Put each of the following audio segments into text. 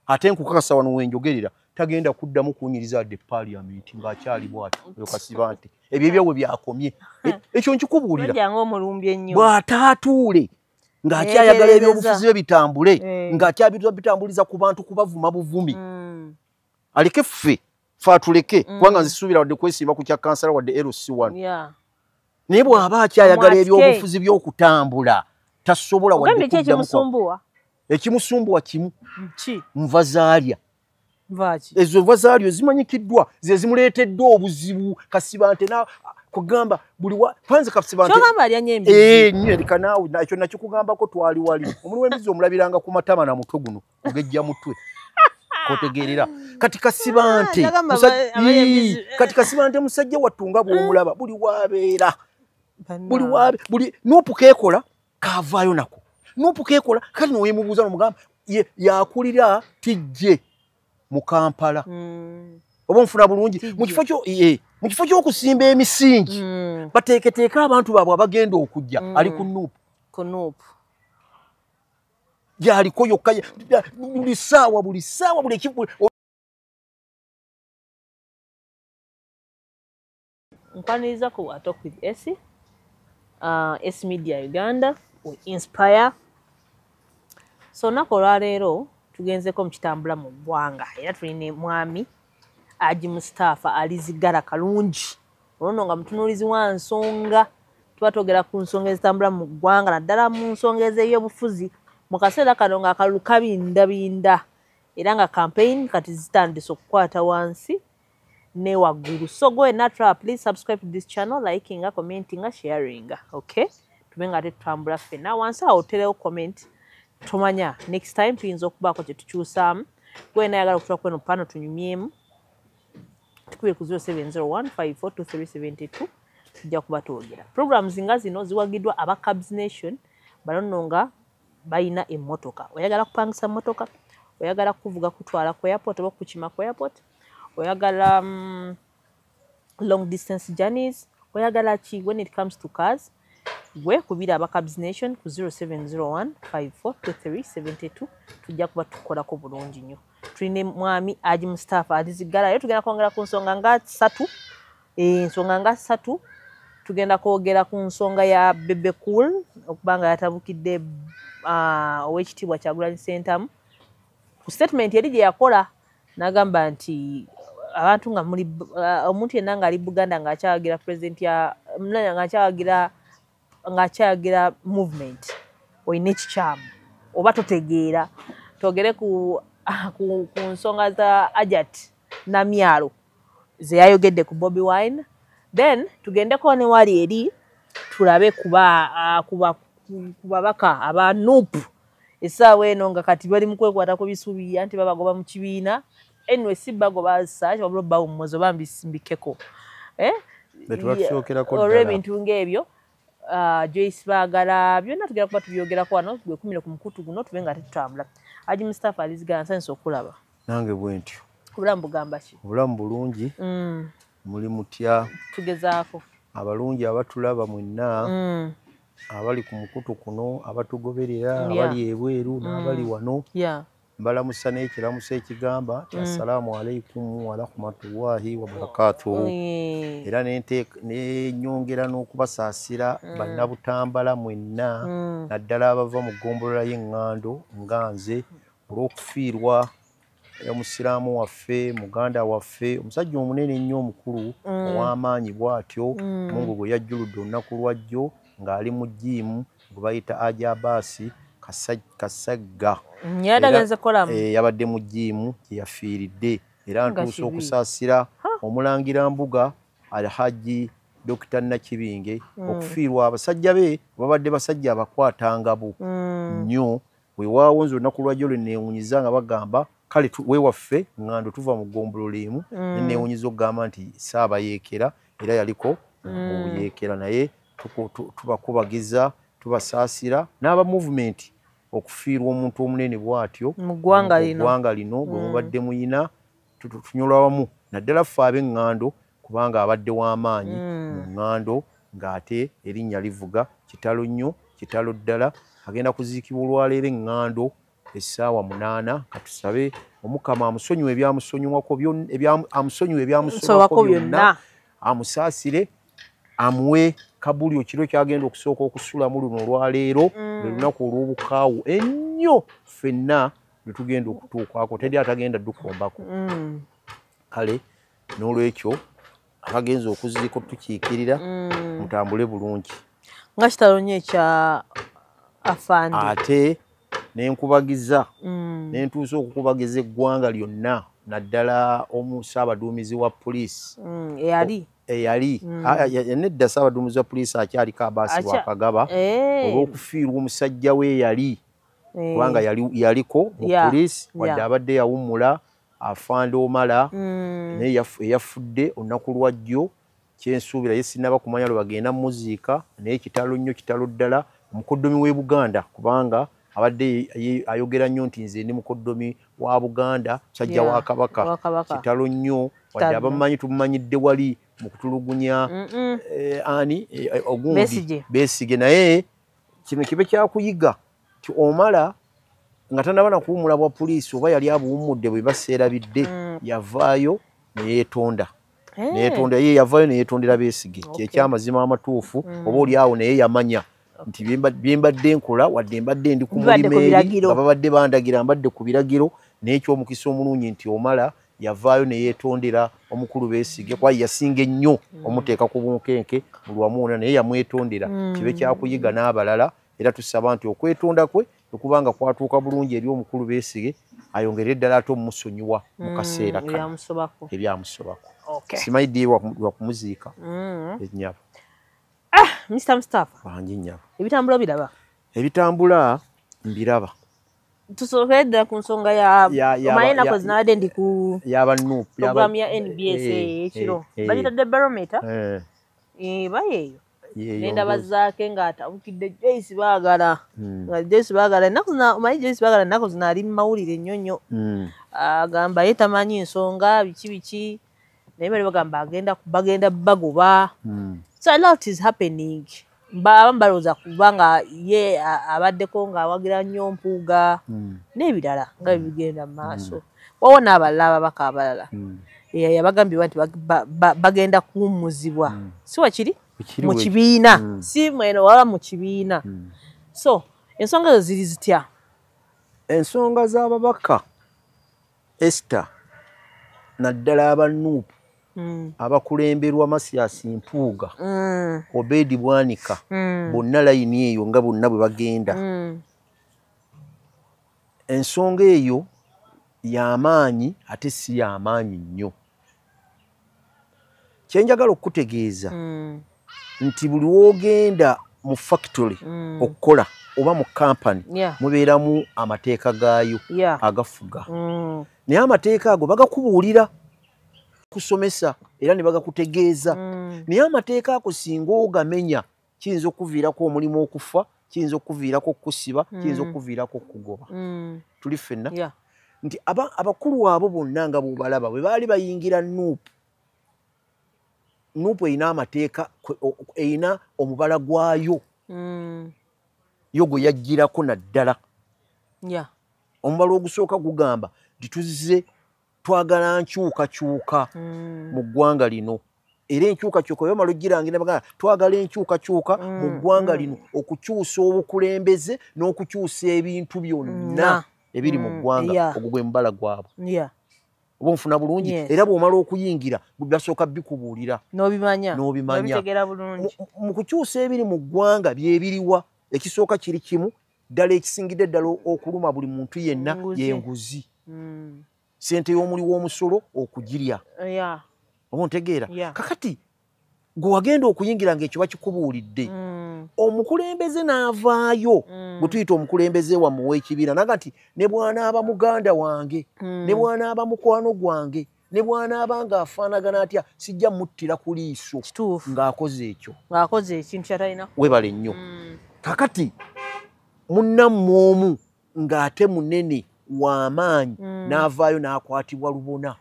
ate nkukakasa wano wenjogerera tagenda kuddamu kunyiriza adde paliament ngaakyali bwati oyo kasiba nti ebyo ebyawe byakomye e, ekyo nkikubuulira bw'ataatuule ng'akyayagala ebyobufuzi bye bitambule eh. ng'akyabitambuliza ku bantu kubavuma buvumi hmm. aleke ffe fe atuleke hmm. kubanga nzisuubira wadde kwesimba ku kya kansala wadde lc one naye bw'aba akyayagala ebyobufuzi by'okutambula tasobola wadde kuddamu ekimusumbuwa kimu ki nva zaalya nvaki ezo nva zaalya ezimanyikiddwa ze zimuleeteddwa obuzibu kasiba nte na kugamba buli wa kwanza kasiba nte kyogamba alya nyo embizi ee nyo erika naawe nakyo nakyo kugambako twali wali omuli w'embizi omulabiranga ku matama na mutwe guno kugejja mutwe kotegeerera kati kasiba nte ah, kati kasiba nte musajja wattu nga bw'omulaba buli wabeera buli wabe buli nupu keekola kavaayo nako nupu kekola kati nowemubuuza nomugamba yakulira tijje mu kampala mm. oba omufuna bulungi mu kifo kyo e, mu kifo ky'okusimba emisingi hmm. bateeketeeke abantu baabwe abagenda okujja hmm. ali ku nuupu ku nuupu gyaliko yokka buli ssaawa buli ssaawa buli nkwaniriza ku atok with s uh, s media uganda we inspire so olunaku olwaleero tugenzeko mukitambula mu ggwanga era tuli ne mwami aji mustaafa alizigala kalungi olono nga mutunuulizi wa nsonga tuba twogera ku nsonga ezitambula mu ggwanga naddala mu nsonga ez'ebyobufuzi mu kaseera kano ng'akalulu kabindabinda era nga kampeyini kati zitandise okukwata wansi ne waggulu so go and natural please subscribe to this channel likinga commentinga sharinga okay tube nga tetutambula ffena wansi awo oterewo comment tomanya next time tuyinza okubaako kye tukyusaamu gwena ayagala okutula kweno pano tunyumyemu tukube ku 0701542372 tujja kuba twogera programs nga zino ziwagiddwa aba cabs nation banono nga balina emmotoka oyagala kupangisa mmotoka oyagala kuvuga kutwala ku airport oba kukima ku airport oyagala um, long distance journeys oyagala ki when it comes to cars gwe kubira abacabs nation ku 0701542372 tujja kuba tukolako bulungi nnyo tulina mwami aji mustapha alizigala yo tugenda kwongera ku nsonga nga satu ensonga eh, nga satu tugenda kwogera ku nsonga ya bebe cool okuba nga yatabukidde ah, owekitiibwa kyagulanyi sentamu ku statement eri gye yakola nagamba nti abantu nga muli uh, omuntu yenna ngaali buganda ngaakyawagira president ya ngaakyawagira ngaakyawagira movement olina ekikyamu oba totegeera twogere ku, ah, ku, ku nsonga za ajat namyalo zeyayogedde ku bobi wine then tugendeko newali eri tulabe kuba uh, kuba ku babaka aba nup esaawa eno nga kati bali mukwekwata ku bisubi anti babagoba mu kibiina anyway si bagoba such wabula bawummuzo bambi simbikeko eh? olw ebintu ngaebyo uh, joyce bagala byonna tugera kuba tubyogerako wano gwekumire ku mukutu guno tube nga tetutambula aji mustapha alizigana nsanyisa okulaba nange bwentyo obulamu bugamba ki obulamu bulungi mm. muli mutya tugezaako abalungi abatulaba mwenna mm. abali ku mukutu kuno abatugoberera abali ebweru mm. n'abali wano mbalamusa n'ekiramuso ekigamba ti mm. assalaamu alaikum warahmatullahi wabarakatu era nenyongera n'okubasaasira mm. bannabutambala mwenna naddala abava mu ggombolola y'eŋŋando nga nze olw'okufiirwa omusiraamu waffe muganda waffe omusajja omunene ennyo omukulu mm. ow'amaanyi bw'atyo mm. mungu gwe yajjuludde olunaku lwajjo ng'ali mu jiimu gwe bayita ajabaasi kasagga mm, eh, yabadde mu jiimu gye yafiiridde era ntuusa okusaasira omulangira mbuga alhaji dokita nakibinge okufiirwa abasajja be babadde basajja abakwatangabo nnyo wewaawo nze olunaku lwajjo lwe neewunyiza nga bagamba kale wewaffe ngando tuva mu ggombolola emu mm. neneewunyiza okugamba nti saabayeekera era yaliko mm. mu buyeekera naye tubakubagiza tubasaasira n'aba muvumenti okufiirwa omuntu omunene bwatyo mu ggwanga lino bwe mm. mubadde muyina tunyolwawamu naddala ffe ab'eŋŋando kubanga abadde w'amaanyi mm. mu ŋŋando ng'ate erinnya livuga kitalo nnyo kitalo ddala agenda kuziikibwa olwaleero eŋŋando essaawa munaana katusabe omukama amusonyiwa ebyamusonyiwako amusonyiwa ebyamusonyiwako byonna amusaasire amuwe kabuli okiro kyagenda okusooka okusulamu luno olwaleero mm. lwe lunaku olw'obukaawu ennyo ffenna lwe tugenda okutuukwako teri atagenda dukombako mm. kale n'olwekyo abagenza okuziika otukiikirira mm. mutambule bulungi nga kitalo nyo ekya afande ate nenkubagiza mm. nentuusa okukubagiza eggwanga lyonna naddala omu ssaabaduumizi wa poliisi mm, eyali eyali nedda ssaabaduumizi wa poliisi akyaliko abaasi bwakagaba eh. olw'okufiirwa omusajja we eyali eh. kubanga yaliko mu poliisi wadde abadde yawummula afande omala mm. naye eyafudde olunaku lwa jjo kyensuubira ye sinaba kumanya lwe bagenda muziika naye kitalo nnyo kitalo ddala omukoddomi w'e buganda kubanga abadde ayogera nnyo nti nze ndi mukoddomi wa buganda musajja wa kabaka kitalo nnyo wadde abamanyi tumumanyidde wali mu kutulugunya eh, ani eh, ogundi besige naye kino kibe kyakuyiga ti omala nga tanaba nakuwumula bwa poliisi oba yali abuwummudde bwe baseerabidde mm. yavaayo neyeetonda eh. neyetonda ye yavaayo neyetondera beesige kyekyamazima amatuufu mm. oba oli awo naye yamanya nti byembadde nkola wadde mbadde ndi ku mulimu eri nga babadde bandagira mbadde ku biragiro naye ekyomukisa omulungi nti omala yavaayo neyetondera omukulu beesige kuba yasinga ennyo mm. omuteeka ku bunkenke mulwamuuna naye yamwetondera kibe kyakuyiga n'abalala era tusaba nti okwetonda kwe okubanga kwatuuka bulungi eri omukulu beesige ayongere eddala ate omusonyiwa mu mm, kaseera ebyamusobako simanyi ddi wakumuziika mm. enyabo ah, mr mustafa bangi nyabo ebitambula biraba ebitambula mbiraba tusobole ddala ku nsonga yamaye enako zinabadde ndi ku programu ya nbs eh, eh, ekiro eh, bagitadde barometa eba yeeyo nenda bazaake ng'atabukidde joyce baagala hmm. nga joyce baagala ennaku zina omanyi joyce baagala ennaku zina ali mu mawulire nnyo nnyo hmm. agamba ye tamanyi nsonga biki biki naye bali bagamba agenda bagenda bagoba hmm. so a lot is happening abamu balowooza kuba nga ye abaddeko ng'awagira nnyo mpuuga n'ebirala nga bibigenda mu maaso mm. wawo n'abalala ababaka abalala hmm. eh, yabagambibwa nti bagenda kuwummuzibwa hmm. si wakiri mu kibiina hmm. si mweno waba mu kibiina so ensonga ezo ziri zitya ensonga z'ababaka ester naddala abanuupu Mm. abakulemberwa masiyasi mpuuga mm. obedi bwanika mm. bonna layini eyo nga bonna bwe bagenda ensonga eyo yamaanyi ate si yamaanyi nnyo kyenjagala okukutegeeza mm. nti buli wogenda mu factory mm. okukola oba mu kampani yeah. mubeeramu amateeka gaayo yeah. agafuga mm. naye amateeka ago bagakubuulira kusomesa era ne bagakutegeeza mm. naye amateeka ago singa ogamenya kiyinza okuviirako omulimu okufa kiyinza okuviirako okusiba kiyinza mm. okuviirako okugoba mm. tuli ffenna nti abakulu abo bonna nga bwobalaba bwe baali bayingira nuupu nuupu erina amateeka erina omubala gwayo mm. yo gwe yajjirako naddala omubala ogusooka gugamba nti tuzze twagala nkyukakyuka mm. mu ggwanga lino era enkyukakyuka yomala ogirangira bagala twagala enkyukakyuka mm, mu ggwanga mm. lino okukyusa obukulembeze n'okukyusa ebintu byonna ebiri mu ggwanga ogwo gwe mubala gwabwe oba onfuna bulungi era bw'omala okuyingira basooka bikubuulira n'obimanya mu kukyusa ebiri mu ggwanga byebiriwa ekisooka kiri kimu ddala ekisingidde ddala okuluma buli muntu yenna yenguzi hmm. sente y'omuli w'omusolo okugirya oba ntegeera kakati gwe wagenda okuyingira ngaekyo bakikubuulidde hmm. omukulembeze n'avaayo hmm. gwe tuyita omukulembeze wamuwa ekibiina naga nti ne bwanaaba muganda wange ne bwanaaba mukwano gwange ne bwanaaba nga afaanagana atya sijja muttira ku liiso ng'akoze ekyo ng'akoze ekintu kyatalina webale nnyo mm. kakati munnammwe omu ng'ate munene w'amaanyi mm. n'avaayo n'akwatibwa lubona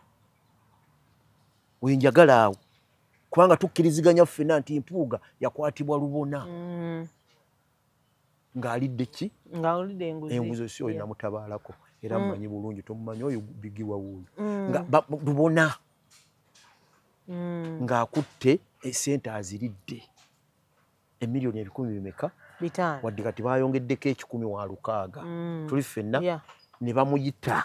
oyo njagala awo kubanga tukkiriziganya ffena nti mpuuga yakwatibwa lubona mm. ng'alidde ki ng'alidde enguzi enguzi si oyo namutabaalako era mm. mmanyi bulungi tomumanyi oyo bigiwa wuuyo mm. nga lubona mm. ng'akutte esente aziridde emiliyoni ebikumi bimeka wadde kati baayongeddeko ekikumi wa lukaaga tuli ffenna ne bamuyita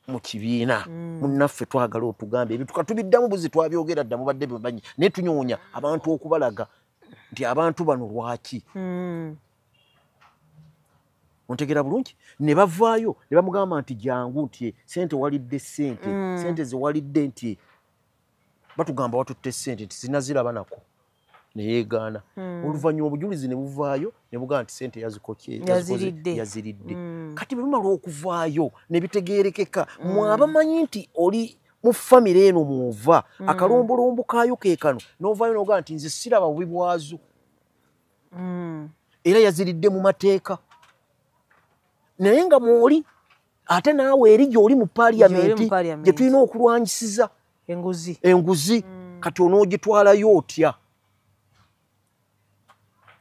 mu kibiina mm. munnaffe twagala otugambe ebintu katubiddamu buzi twabyogera dda mubadde bimanyi naye tunyoonya abantu okubalaga nti abantu bano lwaki mm. ontegera bulungi ne bavaayo ne bamugamba nti jangu nti e, sente walidde sente mm. sente zewalidde nti e, batugamba watutte sente nti zinaziraba nako neyegaana hmm. oluvannyuma obujulizi ne buvaayo ne bugamba nti sente yazikoyaziridde hmm. kati bwebimala okuvaayo ne bitegeerekeka hmm. mwabamanyi nti oli mu famire eno mwova akalombolombo kaayo ke kano novaayo nogamba nti nze siraba bubi bwazo era yaziridde mu mateeka naye nga mwoli ate naawe eri gyoli mu paliyamenti gye tulina okulwanyisiza enguzi enguzi mm. kati onoogitwalayo otya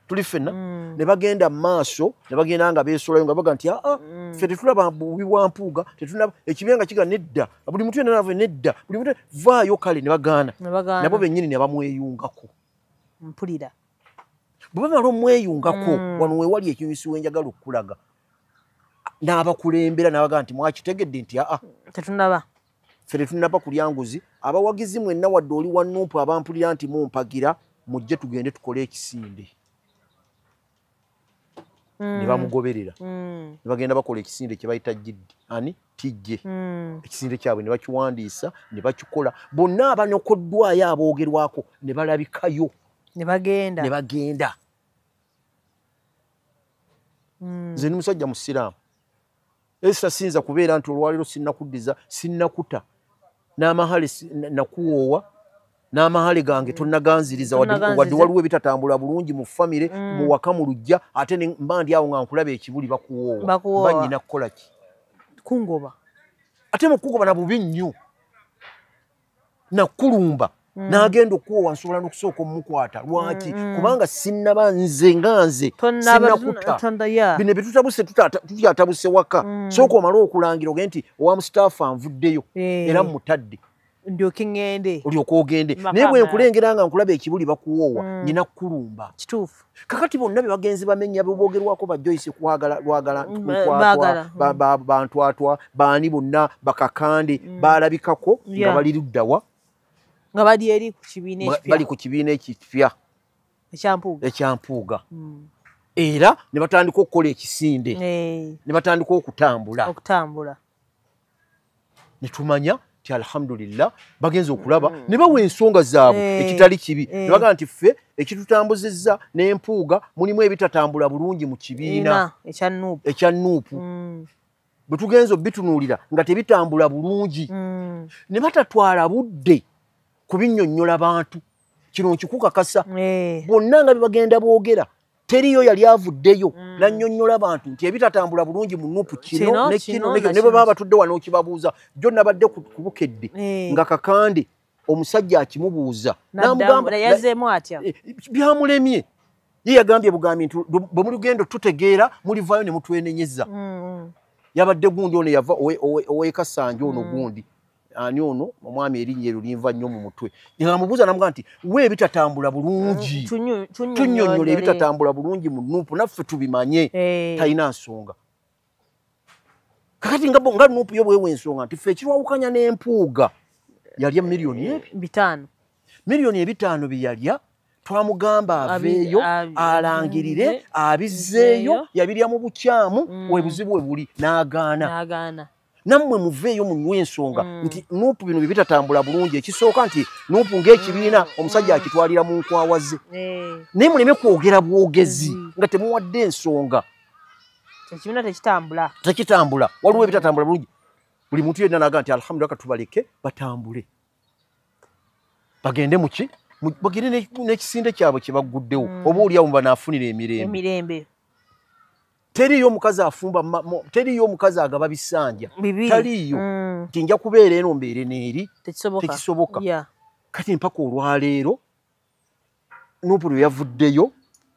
tuli fenna mm. ne bagenda mu maaso ne bagenda nga beesolayo nga baga nti aa ah, ah, mm. fe tetulaba bubi bwa mpuuga tetulaba ekibiina nga kiga nedda buli mutu yenanava nedda buli mutu vaayo kale ne bagaana nabo bennyini ne bamweyungako mpulira bwe bamala omweyungako mm. wano wewali ekinyusi wenjagala okukulaga n'abakulembera n'abagamba nti mwakitegedde nti aa tetunaba fe tetunaba kulya nguzi abawagizi mwenna wadde oli wa numpu abampulira nti mumpagira mujje tugende tukole ekisinde mm. ne bamugoberera mm. ne bagenda bakola ekisinde kye bayita jiddi ani tijje mm. ekisinde kyabwe ne bakiwandiisa ne bakikola bonna abanokoddwayo aboogerwako ne balabikayo ne bagenda ne bagenda mm. nze ni musajja musiraamu Esther sinza kubeera nti olwaliro sinakuddiza sinakuta n'amahale nakuwoowa n'amahale gange mm. tonaganziriza wadde waliwo ebitatambula bulungi mu famire mm. mu waka mu lujja ate mba ndi awo nga nkulaba ekibuli bakuwoowa ba nyina kukola ki kungoba ate mukugoba na bubi nnyo nakulumba mm. nagenda okuwowa nsobola nokusooka omukwata lwaki mm, mm. kubanga sinaba nze nga nze sinakutaabino byetutabuse tutyatabuse waka mm. sooka omale okulangira oge nti owa mustaafu anvuddeyo eh. era mutadde ndyoke ŋŋende olyoka ogende naye bwenkulengera nga nkulaba ekibuli bakuwoowa mm. nyina kukulumba kituufu kakati bonna bebagenzi bamenya bebogerwako ba joyce kwagala lwagala mm, bantwatwa baani bonna bakakande mm. balabikako nga bali luddawa nga bali eri ku kibiina ekipya bali ku kibiina ekipya ekyampuuga ekyampuuga mm. era ne batandika okukola ekisinde eh. ne batandika okutambula okutambula netumanya ti alhamdulillah bagenze okulaba mm. ne bawa ensonga zaabwe hey. Eh. ekitali kibi hey. Eh. nebaga nti ffe ekitutambuzizza n'empuuga mulimu ebitatambula bulungi mu kibiina ekya nuupu mm. bwe tugenza obitunuulira nga tebitambula bulungi mm. ne batatwala budde kubinyonnyola bantu kino nkikukakasa eh. bonna nga bebagenda boogera teriyo yali avuddeyo mm. nanyonyola abantu nti ebitatambula bulungi mu nupu kino nekino nekyo ne bwebaba batudde wano okibabuuza jo nabadde ku bukedde eh. nga kakande omusajja akimubuuza eh, byamulemye ye yagambye bugambi nti bwe muli gendo tutegeera mulivaayo ne mutwenenyeza mm, mm. yabadde gundi ono yava owekasanjo ono mm. gundi ani ono omwami erinnya eryo linva nnyo mu mutwe namubuuza namuga nti we ebitatambula bulungi eh, tunyonyola ebitatambula bulungi mu nuupu naffe tubimanye eh. talina nsonga kakati nga nga nuupu yo bwewa ensonga nti fe ekirwawukanya n'empuuga yalya miliyoni eh, bitaano miliyoni ebitaano byeyalya twamugamba aveeyo alangirire abizzeeyo yabirya mu bukyamu mm. webuzibu we buli n'agaana nammwe muveeyo munywa ensonga mm. nti nuupu bino byebitatambula bulungi ekisooka nti nuupu ngaekibiina mm. omusajja akitwalira mu nkwawa ze eh. naye muleme kwogera bwogezi mm. nga temuwadde ensonga ekibiina tekitambula tekitambula waliwo ebitatambula bulungi buli muntu yenna naga nti alhamdulila katubaleke batambule bagende muki bagende n'ekisinde kyabwe kyebagguddewo oba oliawo mubanaafunira emirembe teriiyo omukazi afumba teriiyo omukazi agaba bisanja taliiyo mm. nti nja kubeera eno mbeere neeri tekisoboka kati mpaka olwaleero nupu lwe yavuddeyo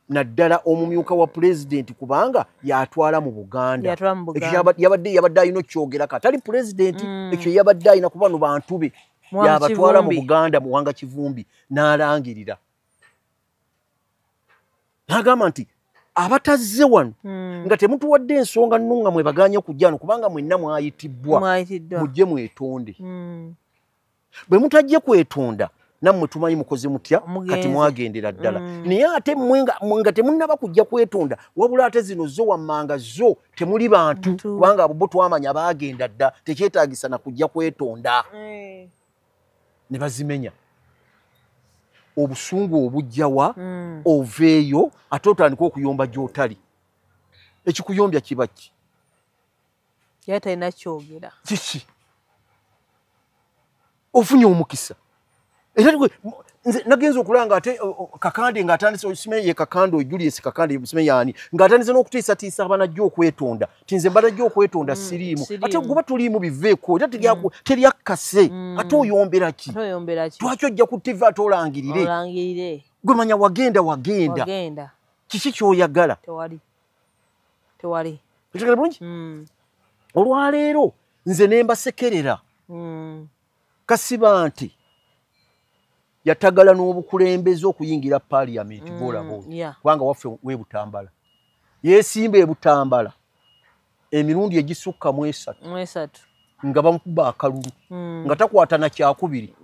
naddala omumyuka wa pulezidenti kubanga yatwala mu buganda yabadde yabadde alina okyogera ka tali pulezidenti mm. ekyo yabadde alina kuba no bantu be yabatwala mu buganda muwanga kivumbi n'alangirira nagamba nti abatazze wano hmm. nga temutuwadde ensonga nno nga mwebaganye okujja wano kubanga mwenna mwayitibbwa mujje mwetonde hmm. bwe mutajje kwetonda nammwe tumanyi mukoze mutya kati mwagendera ddala hmm. naye ate nga temunnaba kujja kwetonda wabula ate zino zo wammanga zo temuli bantu kubanga abo bo twamanya baagenda dda tekyetagisa na kujja kwetonda eh. ne bazimenya obusungu obujjawa mm. oveeyo ate otandika okuyomba gyotali ekikuyombya kiba ki yali talina kyogera kiki ofunye omukisa era nze nagenze okulanga ate kakande nga atandise osimeyo ye kakande ojulies kakande osimeyo ani nga atandise n'okutiisatiisa abanajja okwetonda ti nze mbala jyo okwetonda mm, siriimu ate guba tuliimu biveeko era mm. teryakkase mm. ate oyombera ki twaki ojja ku tivi ate olangirire gwe manya wagenda wagenda kiki kyoyagala otegere bulungi olwaleero nze nembasekerera kasiba nti yatagala n'obukulembeze okuyingira paliament mm, golaba kubanga waffe webutambala yesimba ebutambala emirundi egisukka mu esatu nga bamukuba akalulu mm. nga takwata na kyakubiri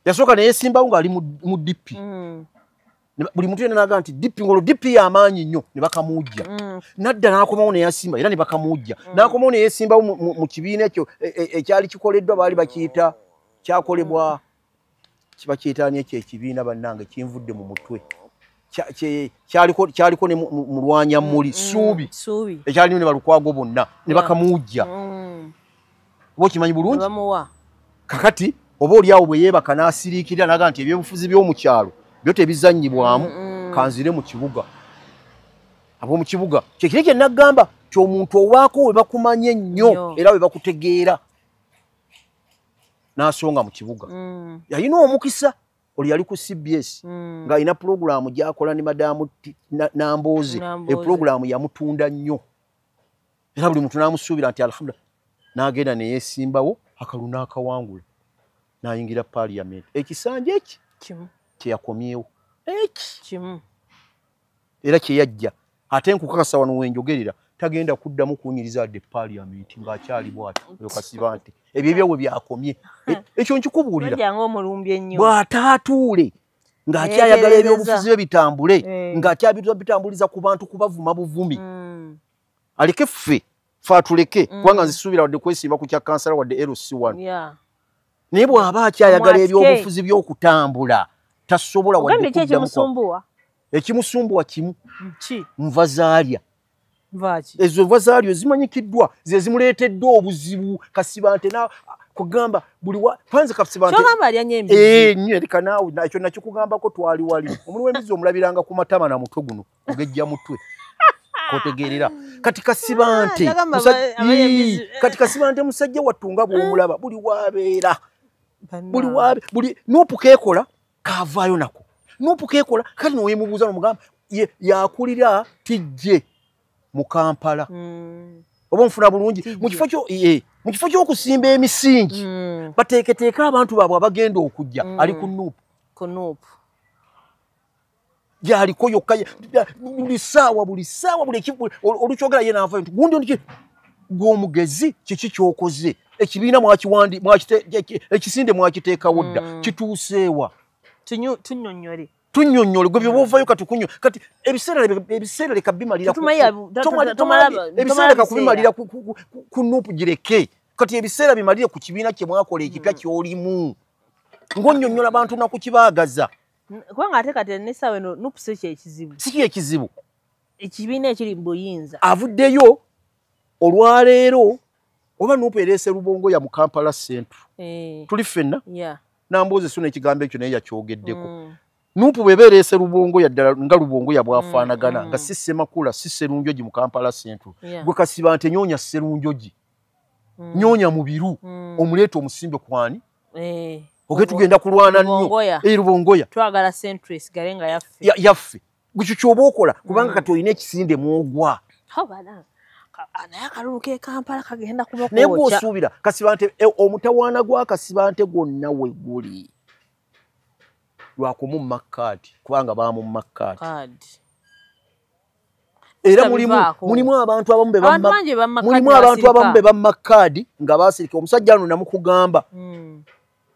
yasooka neyesimbawo ng'ali mu dipi mm. buli muntu yena naga nti dipi ngolo dipi yamaanyi nnyo ne bakamuujja mm. nadda n'akomawo neyasimba era ne bakamuujja mm. n'akomawo ne yeesimbawo mu kibiina ekyo e, e, ekyali kikoleddwa baali bakiyita kyakolebwa mm. kiba kyetaani ekyo ekibiina bannange kinvudde mu mutwe kyaliko ne mulwanya muli suubi ekyalimu ne balukwago bonna ne bakamuujja oba okimanyi bulungi kakati oba olyawo bwe yeebaka n'asiriikirira naga nti ebyobufuzi by'omu kyalo byo tebizannyibwamu mm, mm. kanzire mu kibuga ab'omu kibuga kyekiri kye naggamba ti omuntu owaako we bakumanya ennyo era we bakutegeera n'asonga mu kibuga mm. yalina omukisa oli yali ku cbs ng'alina pulogulaamu gy'akola ne madaamu nambooze epulogulaamu yamutunda nnyo era buli muntu n'amusuubira nti alhamdulillah n'agenda ne yeesimbawo akalulu n'akawangula n'ayingira paaliyamenti ekisanja eki kimu kyeyakomyewo eki kimu era kyeyajja ate nkukakasa wano wenjogerera tagenda kuddamu kuwunyiriza adde paaliyamenti ng'akyali bwati oyo kasiba nti ebyo ebyawe byakomye e-, ekyo nkikubuulira bw'ataatuule ng'akyayagala ebyobufuzi bye bitambule eh. ng'akyabitambuliza ku bantu kubavuma buvumi mm. aleke ffe fe atuleke mm. kubanga nzisuubira wadde kwesiiba ku kya kansala wadde lc1 yeah. naye bw'aba akyayagala ebyobufuzi by'okutambula tasobola wadde kuddamu ekimusumbuwa kimu nva zaalya ezo nva zaalyo zimanyikiddwa ze zimuleeteddwa obuzibu kasibante kugamba buli wa panze kapsiba nti kugamba ali anyembi eh nyo eri kanaawo nakyo nakyo kugamba ko twali wali omuli wembizi omulabiranga ku matama na mutwe guno kugejja mutwe kotegerera kati kasibante ah, kati kasibante musajja wattu nga bwomulaba buli wabeera buli wabe buli nupu kekola kavaayo nako nupu kekola kati nowemubuuza nomugamba yakulira tijje mu kampala hmm. oba omufuna bulungi mukifo kyo eh, mu kifo ky'okusimba emisingi hmm. bateeketeeka abantu baabwe abagenda okujja hmm. ali ku nuupu gyaliko yokka buli saawa buli saawa buli ekivu olukyogera ye naavayo nti gundi oniki gw'omugezi kiki kyokoze ekibiina mwakiwandi ekisinde mwakiteekawo dda mm. kituuseewa tunyonyole tunyonyole gwe byobaovayo kati kunyo kati ebiseera leka bimaliraebiseera leka kubimalira ku nupu gireke kati ebiseera bimalire ku kibiina kye mwakola ekipya mm. kyolimu ng'onyonyola abantu nakukibaagaza kubanga ate kati nesawa eno nup si kyekizibu si kyekizibu ekibiina ekiri mu buyinza avuddeyo olwaleero oba nup ereese lubongoya mu kampala centre eh. tuli ffenna namboozi suna ekigambo ekyo naye yakyogeddeko mm. nup bweba ereese lubongoya ddala nga lubongoya bwafaanagana mm, nga mm. si semakula si serunjogi mu kampala centre gwe kasiba nti enyonya serunjogi mm. nyonya mubiru mm. omuleeta omusimbe kwani eh, oge tugenda kulwana nnyo eh, lubongoya twagala centris gale nga yaffe ya, yaffe bwekyo kyoba okola kubanga mm. kati olina ekisinde mwogwa naye akalulu kekampala kagenda kubakonaye gwosuubira kasibante eh, omutawaana gwakasibante gwonna we guli lwakumu makkaadi kubanga baamu makkaadi era mulimu mulimu abantu abamu be bamma mulimu abantu abamu be bamma kaadi nga baasirika omusajja ano namukugamba mm.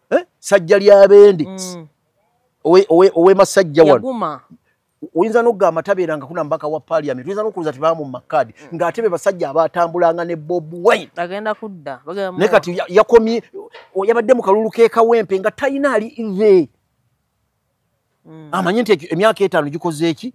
eh? sajja lya bendi mm. owemasajja owe, owe wano oyinza nokugamba tabeera nga kuna mubaka wa paliament oyinza nokuwuza tebamu mumakadi mm. ngaate be basajja abatambulanga ne bob wine agenda kudda ne kati yakomye yabadde mu kalulu kekawempe nga talina ali ive Mm. amanye nti emyaka etaano gikoze eki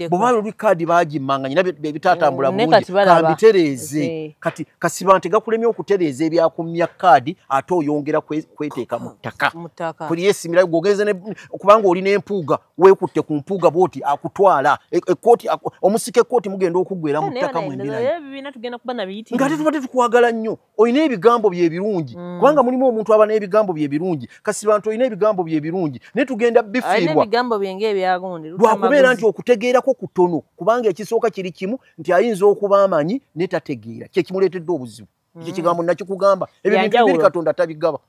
bweba luli kaadi bagimmanga nyina ebitatambula mm, bulungi kambitereeze eh. kati kasiba nti gakulemye okutereeza ebyakumya kaadi ate oyongera kweteeka mu ttaka kuli yesimirayo gwogenze kubanga oli n'empuuga weekutte ku mpuuga bwoti akutwala e, e, kooti omusika ekkooti mugenda okuggwera mu ttaka mwembirangate tubadde tukwagala nnyo olina ebigambo bye birungi mm. kubanga mulimu omuntu aba n'ebigambo bye birungi kasi bantu olina ebigambo bye birungi naye tugenda bifiirwalwakubeera nti okutegeerako kutono kubanga ekisooka kiri kimu nti ayinza okuba amanyi ne tategeera kyekimuleetedde obuzibu mm. ekyo kigambo nakikugamba ebyo bintu biri katonda tabigaba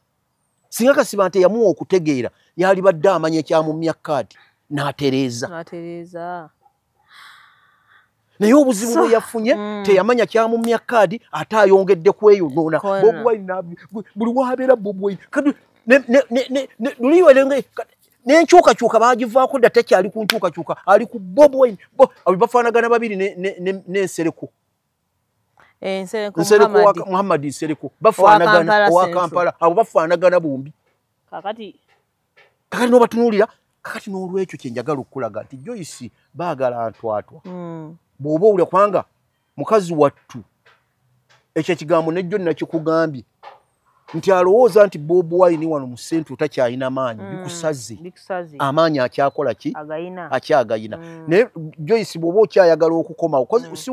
singa kasi bantu eyamuwa okutegeera yalibadde amanya ekyamumya kaadi n'atereeza naye obuzibu bwe yafunye mm. teyamanya kyamumya kaadi ate ayongedde kweyonoona buli wabeera bobwai luliwelenge nenkyukakyuka bagivaako dda tekyali ku nkyukakyuka ali ku bobwai bafaanagana babiri nensereko eh, muhammadi nsereko bafaanagana owakampala abo bafaanagana bombi kakati kakati nobatunuulira kakati n'olwekyo kyenjagala okukulaga nti joyce baagala ntwatwa hmm. bw'oba owulira kubanga mukazi wattu ekyo ekigambo nejjo nakikugambye nti alowooza nti bob wine wano mu centro takyalina maanyi hmm. bikusaze amaanyi akyakola ki akyagayina hmm. naye joyce bw'oba okyayagala okukomawo si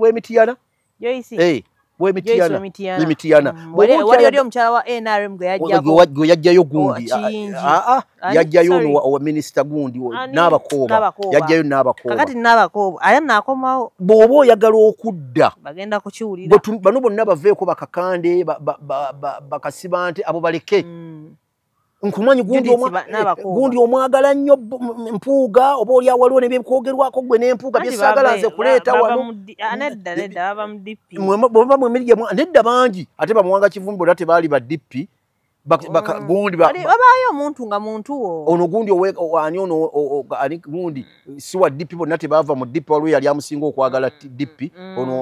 wemitiyana Joyce. Eh. Wemitiana. Wemitiana. Mm. Wali wali wali omchara wa NRM gwe yajja ko. Gwe yajja yo gundi. Ah ah. ah yajja yo no wa minister gundi. Naba ko. Yajja yo naba ko. Kakati naba ko. Aya na ko mawo. Bobo yagala okudda. Bagenda kuchiwulira. Bano bonna baveko bakakande bakasibante abo baleke. Mm. nkumanyi gundi omwagala nnyo mpuuga oba oli awaliwo nebyekwogerwako gwe nempuuga byesagala nze kuleeta wanonedda bangi ate bamuwanga kivumbi ora tebaali ba dp gundibabaayo omuntu nga muntu wo ono gundi ani ono ani gundi siwa dp bonna tebaava mu dp waliwo yali amusinga okwagala mm, dp mm. ono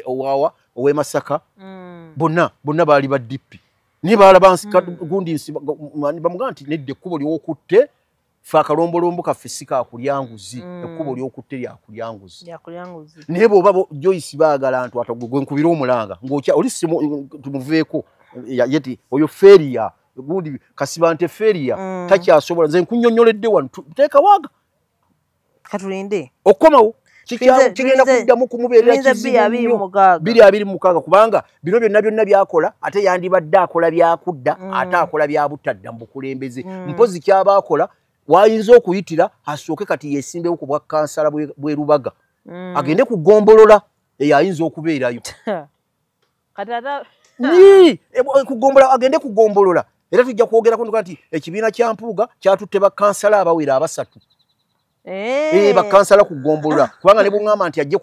owawa owemasaka mm. bonna bonna baali ba dp naye baalaba nsika mm. gundi nsi bamugaa nti nedda ekkubo lyokutte fe akalombolombo kaffe si kakulya nguzi mm. ekkubo lyokutte lyakulya nguzi naye bwoba joyce baagala ntu atagwe gwe nkubira omulanga ngaokya oli tumuveeko yeti oyo feria gundi kasibante feria mm. takyasobola nze nkunyonyoledde wano teekawaga katulinde okukomawo kigenda kuddamu kumubeerera kizibubiri abiri mukaaga kubanga bino byonna byonna byakola ate yandibadde akola byakudda mm. ate akola byabutadda mu bukulembeze mm. mpozi kyaba akola wayinza okuyitira asooke kati yesimbewo ku bwakansala bwerubaga mm. agende ku gombolola eyo ayinza okubeerayo kati ata yii kugombola agende kugombolola era tujja kwogerako nduka nti ekibiina kya mpuuga kyatutte bakansala abawera abasatu Hey. Eh. bakansala kugombolola kubanga nebwogamba nti ajje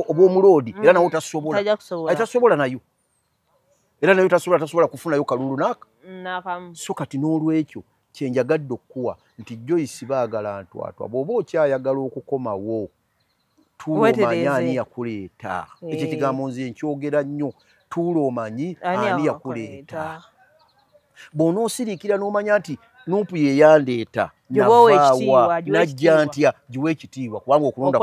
obwomuloodi era nawe tasobolaatasobola nayo era nayo tasobola tasobola kufunayo kalulu naka so kati n'olwekyo kyenjagadde okukuwa nti joyce baagala ntwatwa bw'oba okyayagala okukomawo tuulomanyi ani yakuleeta ekyo ekigambo nze nkyogera nnyo tuulomanyi ani yakuleeta bw'onoosiriikira n'omanya nti nuupu ye yandeeta navaawa najja ntya giwa ekitiibwa kubanga okulonda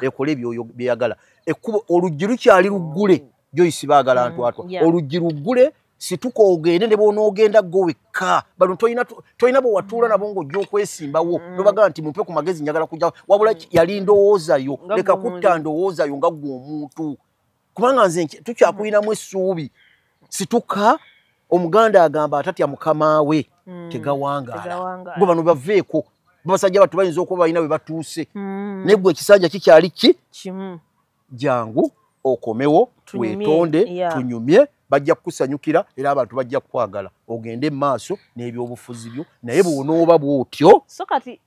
ekola byeyagala ekkubo oluggi lukyali luggule joyce baagala mm, ntwatwa oluggi luggule situka ogende ne bwonoogenda go wekka bano tolina bwe watuula nabo ng'ojja okwesimbawo mm. nobagamba nti mumpe ku magezi njagala kujja wabula mm. yali ndowoozayo leka kutta ndowoozayo nga gwe omuntu kubanga nze tukyakulinamu essuubi situka omuganda agamba atatya mukama we mm. tegawangaala gwe bano baveeko babasajja batu bayinza okuba balina we batuuse naye gwe ekisanja kikyali ki jangu okomewo wetonde tunyumye bajja kukusanyukira era abantu bajja kukwagala ogende mu maaso n'ebyobufuzi byo naye bwonooba bwotyo so kati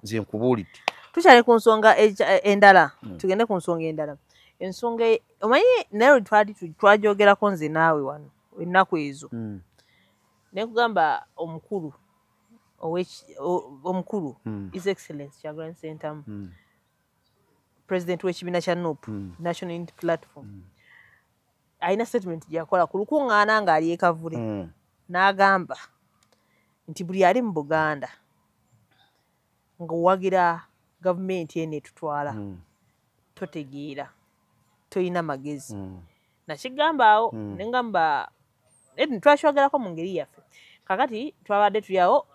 nze nkubuulidde tukyali ku nsonga e, e, endala hmm. tugende ku nsonga endala ensonga e, omanyi naye twali twajogerako nze naawe wano ennaku ezo hmm. nekugamba omukulu omukulu hmm. is excellence kyagulan sentamu president w'ekibiina kya nup mm. national unity platform mm. alina statement gyakola ku lukuŋŋaana ng'ali ekavule mm. n'agamba nti buli ali mu buganda ng'owagira gavumenti eno etutwala mm. totegeera tolina magezi mm. nakigamba awo mm. ne ngamba twakyogerako mu ngeri yaffe kakati twabadde tuli awo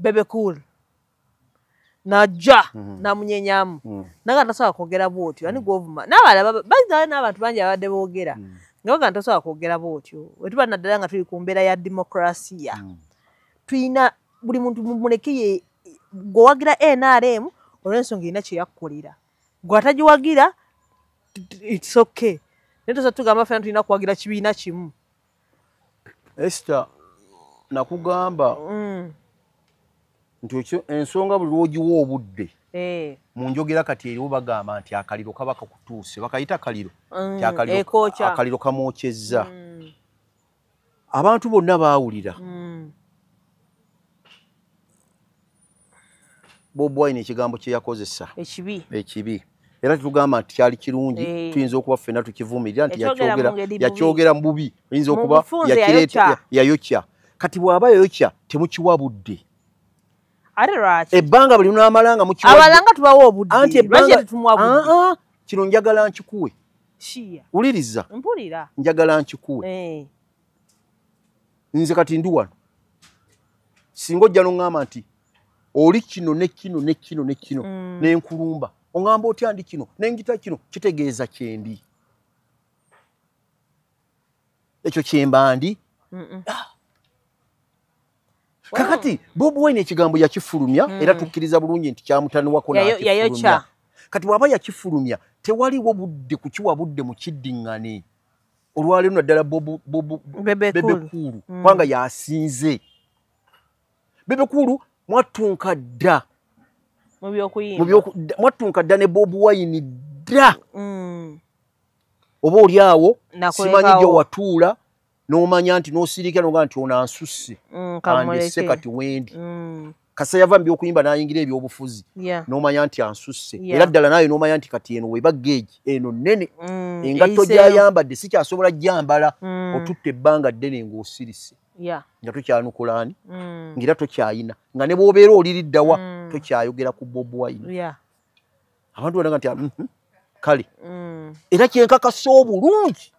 bebe cool najja mhm. namunyenyamu mhm. naga ntasobola kwogera bwotyo ani mhm. gwovuma nabalabaa n'abantu bangi abadde boogera nga baga ntasobola kwogera bwotyo wetuba naddala nga tuli ku mbeera ya demokrasiya tulina buli muntu muleke ye gwewagira nrm olwensonga erina kyeyakkolera gwe atagiwagira its okay naye tosa tugamba fena tulina kuwagira kibiina kimu Esther nakugamba mm. nti ekyo ensonga buli lwogiwa obudde eh. mu njogera kati eriwo bagamba nti akaliro kaba kakutuuse bakayita kaliro mm, akaliro kamwokyezza mm. abantu bonna baawulira bob wine ekigambo kyeyakozesa ekibi ekibi era tetugamba nti kyali kirungi eh. tuyinza okuba ffena tukivumirira nti yakyogera mu bubi oyinza okuba yakireeta yayokya kati bw'aba yayokya temukiwa budde ebbanga buli lunaamala nga mukiwaabalanga tubawa obudde anti ebbanga kino njagala nkikuwe wuliriza njagala nkikuwe eh. nze kati ndi wano singa ojja noŋŋamba nti oli kino ne kino ne kino ne kino mm. ne nkulumba oŋŋamba otya ndi kino ne ngita kino kitegeeza kyendi ekyo kyemba ndi ah. kakati bob wine ekigambo yakifulumya mm. era tukkiriza bulungi nti kyamutaniwako nakifulumya kati bwaba yakifulumya tewaliwo budde kukiwa budde mu kiddiŋŋane olwaleero naddala bebekuulu mm. kubanga yasinze bebekuulu mwattunka dda mwattunka dda ne bobu wayini dda mm. oba oli awo simanyi gye watuula n'omanya nti n'osirika noga nti onansusse mm, andese kati wendi kasa yava mubyokuyimba nayingira ebyobufuzi yeah. nomanya nti ansusse yeah. era ddala naye nomanya nti kati eno weba geegi eno nene mm, engatto gyayambadde sikyasobola jambala mm. otutte ebbanga ddene ngaosirise yeah. nga tokyanukulaani mm. ngaera tokyayina nga ne bwobeera oliriddawa mm. tokyayogera ku bobwine yeah. abantu banaga nti mm -hmm. kale mm. era kyenkakasa obulungi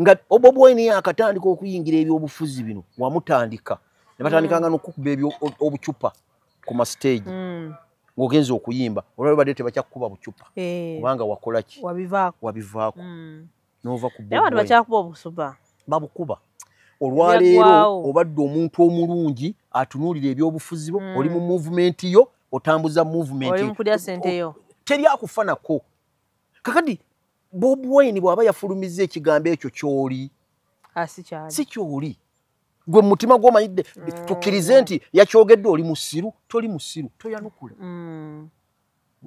nga obo bwoyina yakatandika okuyingira ebyobufuzi bino wamutandika ne batandikanga mm. nokukuba ebyo obucupa ku mastage mm. ng'ogenza okuyimba olwali badde tebakyakukuba bucupa eh. kubanga wakolaki wabivaako mm. nova kubakyakuba babukuba olwaleero obadde omuntu omulungi atunuulira ebyobufuzi bo oli mu muvumenti yo otambuza muvumenti teri akufanako kakadi bob wine bwaba yafulumizza ekigambo ekyo kyoli ah, si kyoli gwe mumutima gwomanyidde mm. tukkirize nti yakyogedde oli musiru toli musiru toyanukula mm.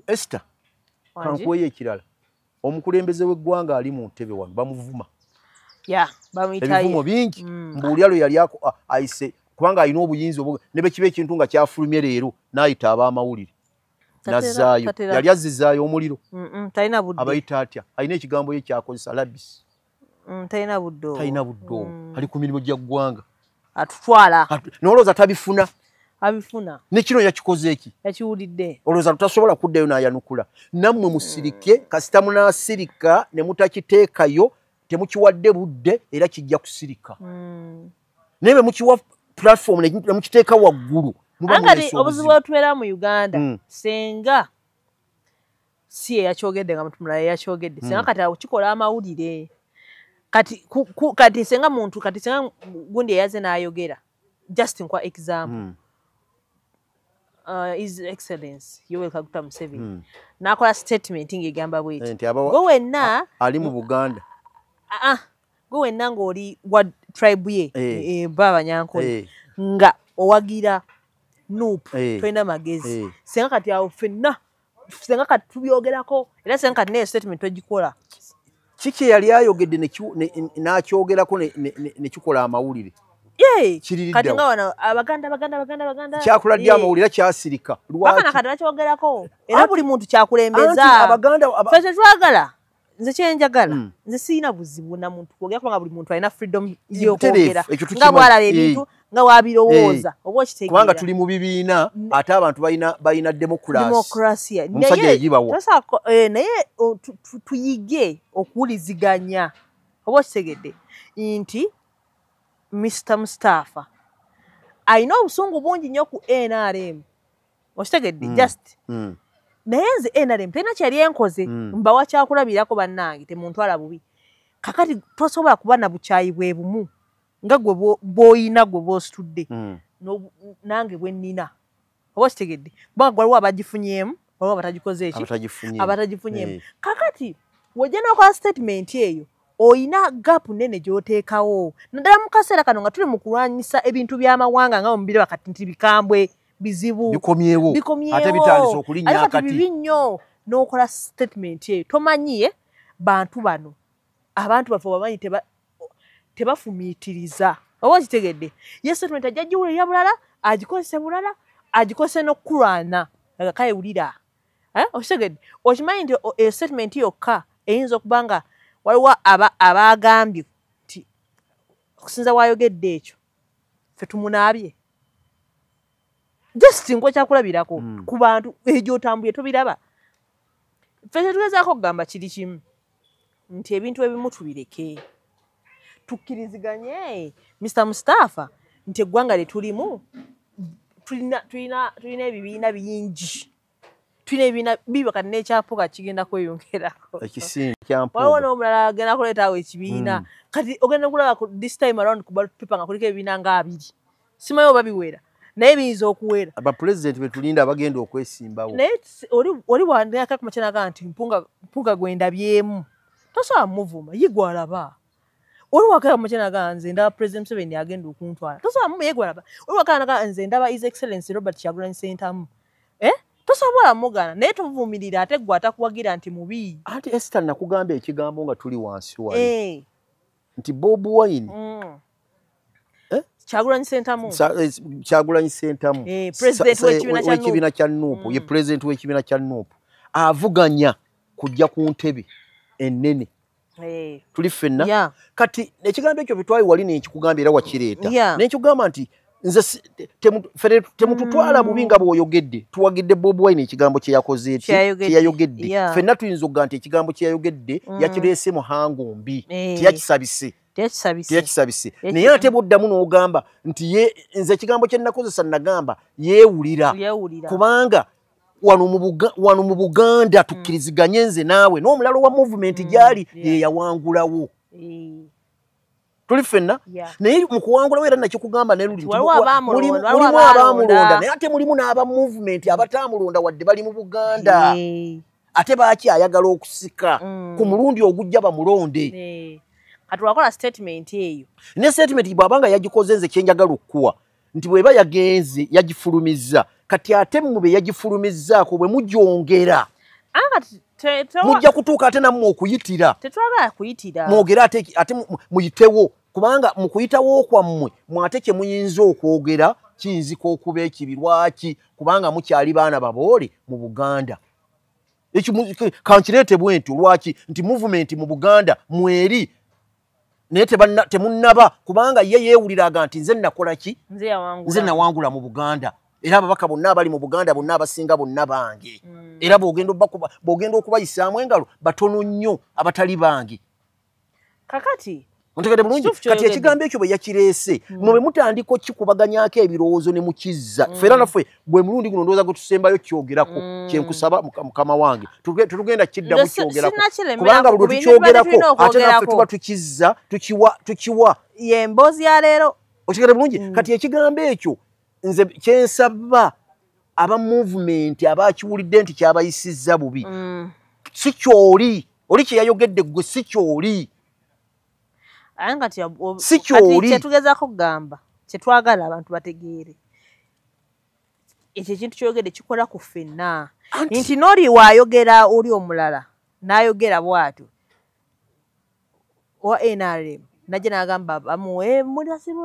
este kankweyo ekirala omukulembeze w'eggwanga ali mu ntebe wano bamuvuma ebivumo bingi mm. mbuulya lwe yali ayise kubanga alina obuyinza ne bwe kiba ekintu nga kyafulumye leero n'ayita ab'amawulire nazzaayo yali azzizaayo omuliro talina budde abayita atya alina ekigambo ye kyakozesa labisi mm, talina budde talina budde mm. ali ku mirimu gya ggwanga atutwala nolowooza tabifuna abifuna nekino yakikoze eki yakiwulidde olowooza tutasobola kuddayo n'ayanukula nammwe musirike mm. kasita munaasirika ne mutakiteekayo temukiwadde budde era kijja kusirika naye bwe mukiwa platform ne mukiteeka waggulu angati obuzibu otubeera mu uganda mm. senga si eyakyogedde nga mutu mulala eyakyogedde senga mm. kati akikola amawulire kati kati senga muntu kati senga gundi eyaze n'ayogera just nkwa example mm. uh, his excellence yoweri kaguta museveni hmm. nakola statement ngaegamba bweti eh, gwe wenna ali mu buganda ah, ah, gwe wenna ngaoli wa tribe ye eh. eh, ba abanyankole nga owagira nup tolina magezi senga kati awo fenna senga kati tubyogerako era senga kati naye statement twegikola kiki eyali ayogedde n'akyogerako nekikola amawulire kati nga wano abaganda baganda baganda baganda kyakula ddi amawulire kyasirika lwakana kati bakyogerako era buli muntu kyakulembeza fe tetwagala nze kyenjagala mm. nze sirina buzibu na muntu kwogera kubanga buli muntu alina freedom yokwogera nga bwalaba ebintu nga wabirowooza oba okitegeerakubanga tuli mu bibiina ate abantu balina demokurasidemokurasiaomusajja yegibawo eh, naye tuyige okuwuliziganya oba okitegedde nti mr mustapha alina obusungu bungi nnyo ku nrm okitegedde mm. just mm. naye nze nrm terina kyeyali enkoze mm. mbawa kyakulabirako bannange temuntwala bubi kakati tosobola kuba na bukyayi bwe bumu nga gwe bwoyina gwe bwositudde mm. nange bwennina oba okitegedde kubanga gwaliwo abagifunyemu waliwo abatagikoze eki abatagifunyemu eh. kakati wojja nokola statement eyo oyina gapu nene gyoteekawo naddala mu kaseera kano nga tuli mu kulwanyisa ebintu by'amawanga nga mubiraba kati nti bikambwe bizibu bikomyewo ate bitandisa okulinnya akati bibi nnyo n'okola sitatimenti eyo tomanyiye bantu bano abantu baffe bamanyi tebafumiitiriza oba okitegedde ye sitatimenti ajja giwulira bulala agikozese bulala agikozese n'okukulwana agakale wulira eh, okitegedde okimanyi nti eyo statement yokka eyinza okuba nga waliwo abaagambye nti okusinza waayogedde ekyo fe tumunaabye just nkuwa ekyakulabirako hmm. ku bantu egyo otambuye tobiraba fe tetugezaako okugamba kiri kimu nti ebintu ebimu tubireke tukkiriziganye mr mustafa nti eggwanga lye tulimu tulina ebibiina bingi tulina ebibiina biba kati n'ekyampuga kigenda kweyongerakowaliwo n'omulala agenda kuleetaawo ekibiina hmm. kati ogenda kulaba this time around kubapepa nga kuliko ebibiina nga abiri simayi oba biwera naye biyinza okuwera abapulezidenti betulinda abagenda okwesimbawo naye oli wandakakumakyanaga nti mpunga gwendabyemu tosobola muvuma yigwalaba oli wakala mukyanaga nze ndaba president museveni agenda okuntwala tosobola mumu yigwalaba oli wakanaga nze ndaba is excellence robert kyagulanyi sentamu eh? tosobola mugana naye tovumirira ate gwe atakuwagira nti mubii anti esita nakugamba ekigambo nga tuli wansi wali eh. nti bob wine mm. eh? kyagulanyi sentamu eh, kyagulanyi sentamu eh, wekibiina kya nupu ye mm. pulezidenti wekibiina kya nupu avuganya kujja ku ntebe enene tuli ffenna kati ekigambo ekyo byetwayi wali nenkikugamba era wakireeta nenkikugamba nti nze temututwala bubi nga bwoyogedde tuwagidde bob wine ekigambo kyeyakose ti kyeyayogedde fenna tuyinza okuga nti ekigambo kyeyayogedde mm. yakireese muhango mbi eh. teyakisabise teyakisabise naye ate bwoddamu n'ogamba nti nze ekigambo kyenakozesa nagamba yeewulira kubanga wano mu buganda mm. tukkiriziganye nze naawe n'omulalo wa movement mm. gyali yeyawangulawo tuli fenna naye mukuwangulawo era nakikugamba nelulimulimu abamulonda naye ate mulimu n'aba movement abatamulonda wadde bali mu buganda ate baaki ayagala okusika mm. ku mulundi ogujja bamulonde kati wakola statement eyo ne statement bwabanga yagikoze nze kyenjagala okukuwa nti bweba yagenze yagifulumizza kati ate mmwe be yagifulumizzaako bwe mugyongera ah, mujja kutuuka ate nammwe okuyitira tetwagala kuyitira mwogere ate ate muyitewo kubanga mu kuyitawo kwammwe mwate kye muyinza okwogera kiyinzika okuba ekibi lwaki kubanga mukyali baana baboole mu buganda kankireete bwentyo lwaki nti muvumenti mu buganda mweri naye temunnaba kubanga ye yeewuliraga nti nze nakola ki nze nawangula mu buganda era ababaka bonna abali mu buganda bonna abasinga bonna bange mm. era bwogenda okubayisaamu engalo batono nnyo abatali bange kakati ontegede bulungi kati ekigambo ekyo bwe yakireese mm. mwe bwe mutandika okikubaganyako ebirowoozo ne mukizza mm. fera naffe gwe mulundi guno ndowooza gwe tusembayo kyogerako mm. kyenkusaba mukama wange tetugenda kiddamu kyogerako kubanga buli tukyogerako ate naffe tuba tukizza tukiwa tukiwa ye mboozi ya leero okitegere bulungi mm. kati ekigambo ekyo nze kyensaba aba movement abakiwulidde nti kyabayisizza bubi mm. si kyoli oli kyeyayogedde gwe si kyoli aye nga si kyoli kyetugezako kugamba kyetwagala abantu bategeere ekyo ekintu kyoyogedde kikola ku ffenna nti noli waayogera oli omulala n'ayogera bwatyo owa nrm najja n'agamba bamuwe mulasimu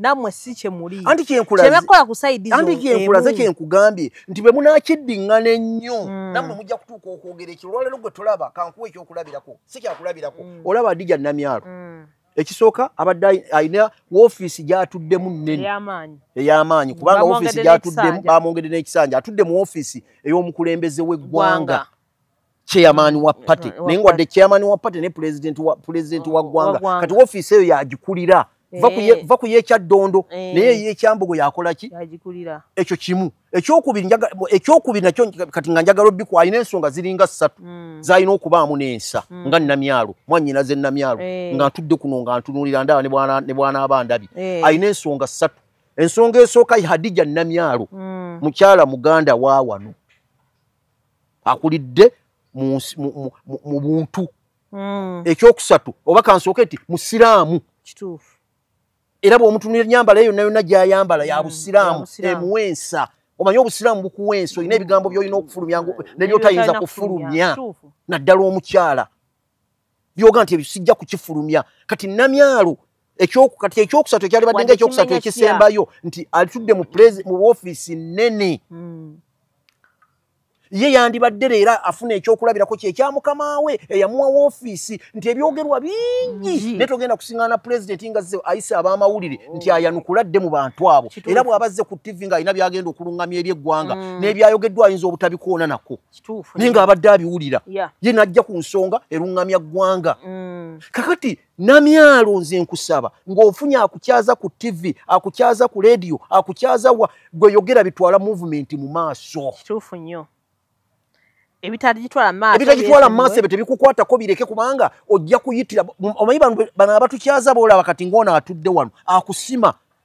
namwe si kyemuli anti kyenkulazekyebakkola ku saidi anti kyenkulaze kyenkugambye nti bwe munakiddiŋŋana ennyo mm. namwe mujja kutuuka okwogera ekyo olwaleero gwe tulaba kankuwa ekyokulabirako si kyakulabirako mm. olaba adija namyalo mm. ekisooka abadde alina woofiisi gyatuddemu nnene ey'amaanyi kubanga woofiisi gyatuddemu bamwongedde n'ekisanja atudde mu woofiisi ey'omukulembeze w'eggwanga chairman wa party naye nga wadde chairman wa party ne president wa president wa gwanga kati office eyo yagikulira eh. va ku yekyaddondo eh. naye yekyambogo yakola ki ekyo kimu ekyokubiri ekyokubiri nakyo kati nga njagala obiku alina ensonga ziringa ssatu mm. zalina okubaamu n'ensa mm. nga namyalo mwanyina ze namyalo eh. nga ntudde kuno nga ntunulira ndaba ne bwana aba ndabi alina ensonga ssatu ensonga esooka hadija namyalo mm. mukyala muganda wa wano akulidde mu buntu hmm. ekyokusatu oba kansooke nti musiraamu kituufu era bwomutunira enyambala eyo nayona gyayambala ya hmm, busiraamu emuwa ensa omanyi obusiraamu bukuwa ensa olina ebigambo byolina okufulumya nebyotayinza kufulumya naddala omukyala byoga nti ebyo sijja kukifulumya kati namyalo ekyokukati ekyokusatu ekyalibadde nga ekyokusatu ekisembayo nti alitudde mu mu ofiisi nnene hmm. ye yandibadde leero afuna ekyokulabirako kye ekya mukama we eyamuwa woofiisi nti ebyogerwa bingi naye togenda kusiŋana pulezidenti nga ze ayise ab'amawulire nti ayanukula dde mu bantu abo era bw'aba azze ku ttivi ng'alina by'agenda okuluŋŋamya eri eggwanga hmm. n'ebyayogeddwa ayinza obutabikoona nako naye ng'abadde abiwulira ye najja ku nsonga eruŋŋamya ggwanga mm. kakati namyalo nze nkusaba ng'ofunye akukyaza ku tivi akukyaza ku leediyo akukyaza wa gwe yogera bitwala muvumenti mu maaso kituufu nnyo ebitagitwala mu maaso ebyo tebikukwatako bireke kubanga ojja kuyitira omanyi bano abatukyaza boolaba kati ng'ono atudde wano akusima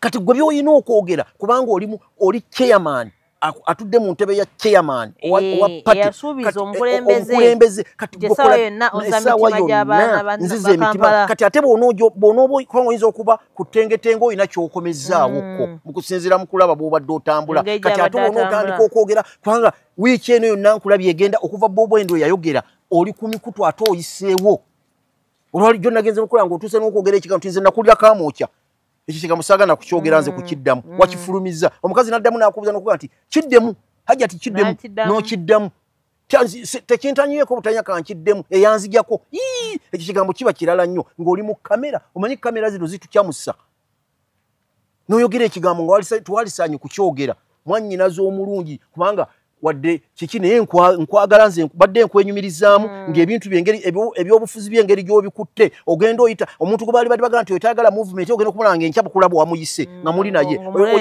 kati gwe byolina okwogera kubanga olimu oli chairman atudde mu ntebe ya chairman owa eh, patiaaaanziza emitima kati ate bwonaobaoyinza okuba ku tengetenga olina kyokomezaawokko mm. mukusinzira mukulaba bwobadde otambula kati ate bonaotandika okwogera kubanga wiiki eno yonna nkulabye egenda okuva bobwendo yayogera oli ku mikutu ate oyiseewo olwali jjo nagenze nokola nga otuuse nokwogera ekigambo tinze nakulira kamwokya ekyo kigambo saagana kukyogera nze mm, kukiddamu mm. wakifulumiza omukazi naddamu nakubuza nokuga nti kiddemu hajja ti kiddemu nokiddamu tekintanyieko butanya kankiddemu eyanzijako ekyo kigambo kiba kirala nnyo ng'oli mu kamera omanyi kamera zino zitukyamusa noyogera ekigambo nga twalisaanye kukyogera mwanyinaza omulungi kubanga wadde kiki naye nkwagala nze badde nkwenyumirizaamu mm. ngaebintu byengeri ebyobufuzi byengeri gyobikutte ogenda oyita omuntu gwe baali badi bagala nti oytagala movement ogenda okumala nga enkya bukulaba wamuyise mm. nga muli naye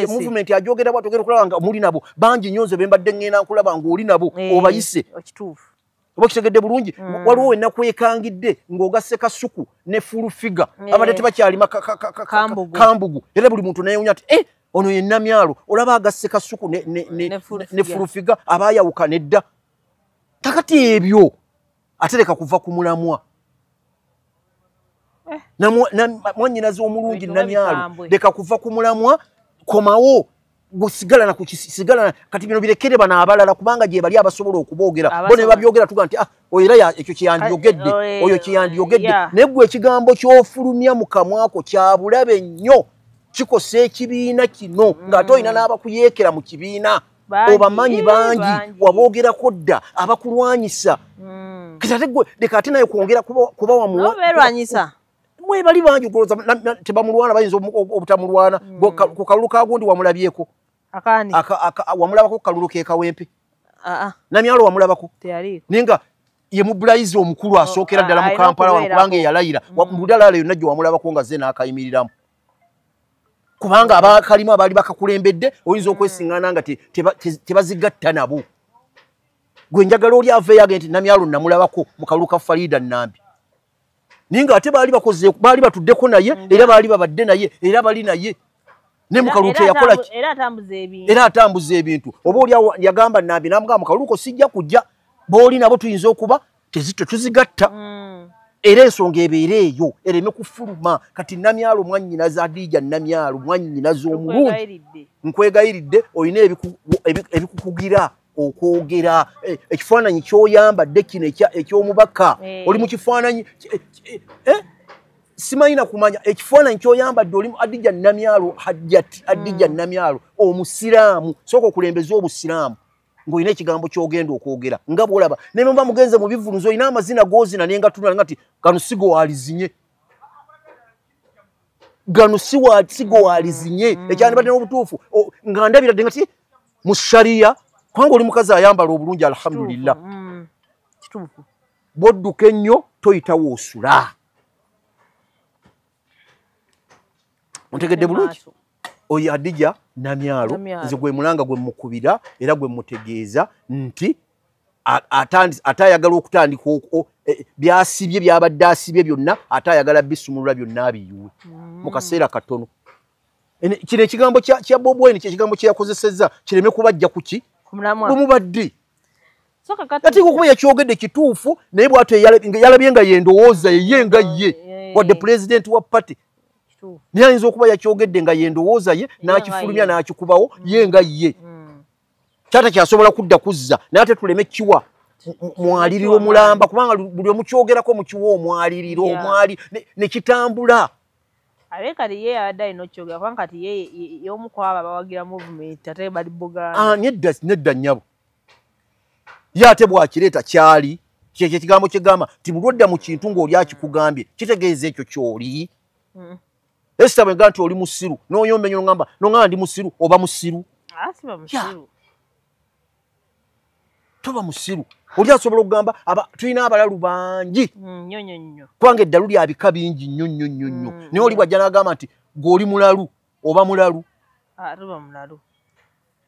movement agyogera bwati ogenda okulaba nga muli nabo bangi nyo nze bembadde ngenda nkulaba ngaoli nabo eh, obayise oba kitegedde bulungi mm. waliwo wena kwekangidde ng'ogasse kasuku ne full figure yeah. abadde tebakyalima kambugu era buli muntu nayewunya ati eh, ono ye namyalo olaba agasse kasuku ne, ne, ne, ne, ne full figure aba ayawukana edda kakati ebyo ate leka kuva ku mulamwa eh. mwanyinazi omulungi namyalo leka kuva ku mulamwa komawo gusigala na kukisigala kati bino birekere bana abalala kubanga gye bali abasobola okuboogera bo ne babyogera tuga nti ah oyo era ekyo kiyandiyogedde oyo kiyandiyogedde naye gwe ekigambo ky'ofulumya mu kamwako kya bulabe nnyo kikosa ekibiina kino ng'ate olina mm. n'abakuyeekera mu kibiina obamanyi bangi waboogerako dda abakulwanyisa hmm. kati ate gwe leka ate naye kwongera kuba wamuwalwanyisa mwebali bangi ogoloza tebamulwana bayinza obutamulwana hmm. ku kalulu kagundi wamulabyeko wamulabako ku kalulu kekawempe ah, ah. namyalo wamulabako naye nga ye mubulayizi omukulu oh, asookera ah, ddala mu kampala wano kubanga eyalayira mudalaala hmm. yonna gye wamulabako nga ze naakayimiriramu kubanga abakalimu abaali bakakulembedde oyinza okwesingana nga tebazigatta nabo gwe njagala oli aveeyo agee nti namyalo namulabako mu kalulu ka farida nambi naye nga ate baali bakoze baali batuddeko naye era baali babadde naye era bali naye ne mukalulu teyakola era atambuza ebintu oba oli yagamba nambi namugamba mukaluluko sijja kujja booli nabo tuyinza okuba tezitwe tuzigatta mm. era ensonga ebeera eyo ereme kufuluma kati namyalo mwanyina za dija namyalo mwanyina z'omulungi nkwegayiridde olina ebikukugira okwogera e, ekifaananyi kyoyambadde kino ekyomubaka eh. oli mu kifaananyi eh? simanyi na kumanya ekifaananyi kyoyambadde olimu adija namyalo hajjati adija mm. namyalo omusiraamu sooka okulembeza obusiraamu ng'olina ekigambo ky'ogenda okwogera nga bwolaba naye muba mugenze mu bivuluzo olina amazina gozina naye nga tunala nga ti gano sigowaalizinye gano sigowaalizinye mm. ekyandibadde n'obutuufu nga ndabiradde nga ti mu shariya kubanga oli mukazi ayambala obulungi alhamdulillah mm. bwodduka ennyo toyitawo osula ontegedde bulungi oyo adija namyalo nze gwe mulanga gwe mukubira era gwe mutegeeza nti ate ayagala okutandika e, byasibye byabadde asibye byonna ate ayagala bisumulula byonna abiyuwe mm. mu kaseera katono kino ekigambo kya bob wine kyekigambo kyeyakozesezza kireme kubajja kuki kumubadde ati okuba yakyogedde kituufu naye bwatyo yalabye nga yendowooza yeye nga ye wadde pulezidenti wa pati naye ayinza okuba yakyogedde nga yendowooza ye n'akifulumya n'akikubawo mm. ye nga ye mm. kyata kyasobola kudda kuzza naye ate tuleme kiwa mwaliriro mulamba kubanga buli omukyogerako mukiwa omwaliriro omwali nekitambula ate kati ye yabadde alina okukyogera kubanga kati ye yomu kwabo abawagira movement ate bali buganda ah, nedda nedda nyabo ye ate bwakireeta kyali kyekyo ekigambo kyegamba nti bulwodda mu kintu ng'oli akikugambye kitegeeza ekyo kyoli hmm. esita bwenga nti oli musiru noyomba enyo nogamba nogamba ndi musiru oba musiru ah, toba musiru oli asobola okugamba tulina abalalu bangi hmm, kubanga eddalu lyabika bingi nnyo nnyo nnyo nnyo hmm. naye oli bwajja nagamba nti gweoli mulalu oba mulalu ah,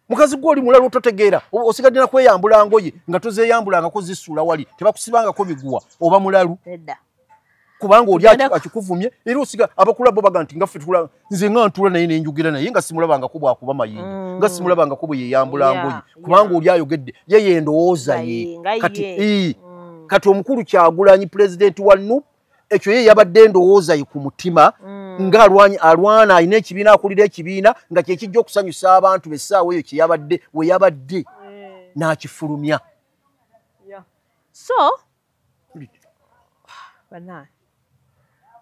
mukazi gwe oli mulalu ototegeera osigadde na kweyambula ngoye nga tozeyambulangako zisuula wali tebakusibangako miguwa oba mulalu kubanga oli akikuvumye era osiga abakula bo baga nti nga ffe tula nze nga ntula naye nenjogera naye nga simulabangako bwakuba mayinja mm. nga simulabangako bwe yeyambula ngoye kubanga oli ayogedde yeye endowooza ye kati mm. kati omukulu kyagulanyi pulezidenti wa nup ekyo ye yabadde endowooza ye ku mutima mm. nga alwany, alwana alina ekibiina akulira ekibiina nga kyekijja okusanyusa abantu besaawa eyo kyeyabadde we yabadde mm. n'akifulumya yeah. so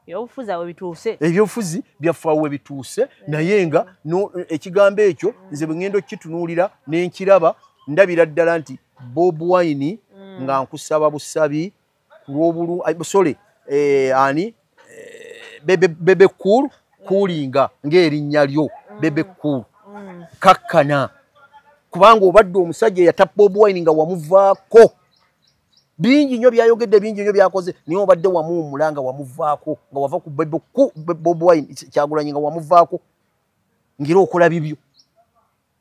ebyobufuzi awo bituuse ebyobufuzi byafaawo we bituuse mm. naye nga no, ekigambo ekyo mm. nze bwe ŋŋenda okukitunuulira ne nkiraba ndabira ddala nti bob wine mm. nga nkusaba busabi kulwobulu eh, sorry eh, ani eh, bebe bebe cool kulinga ng'erinnya lyo mm. bebe cool mm. kakkana kubanga obadde omusajja eyatappa bobi wine nga wamuvaako bingi nnyo byayogedde bingi nnyo byakoze naye obadde wamuwumula nga wamuvaako nga wava ku bebe bobi wine kyagulanyi nga wamuvaako ngeri okola bibyo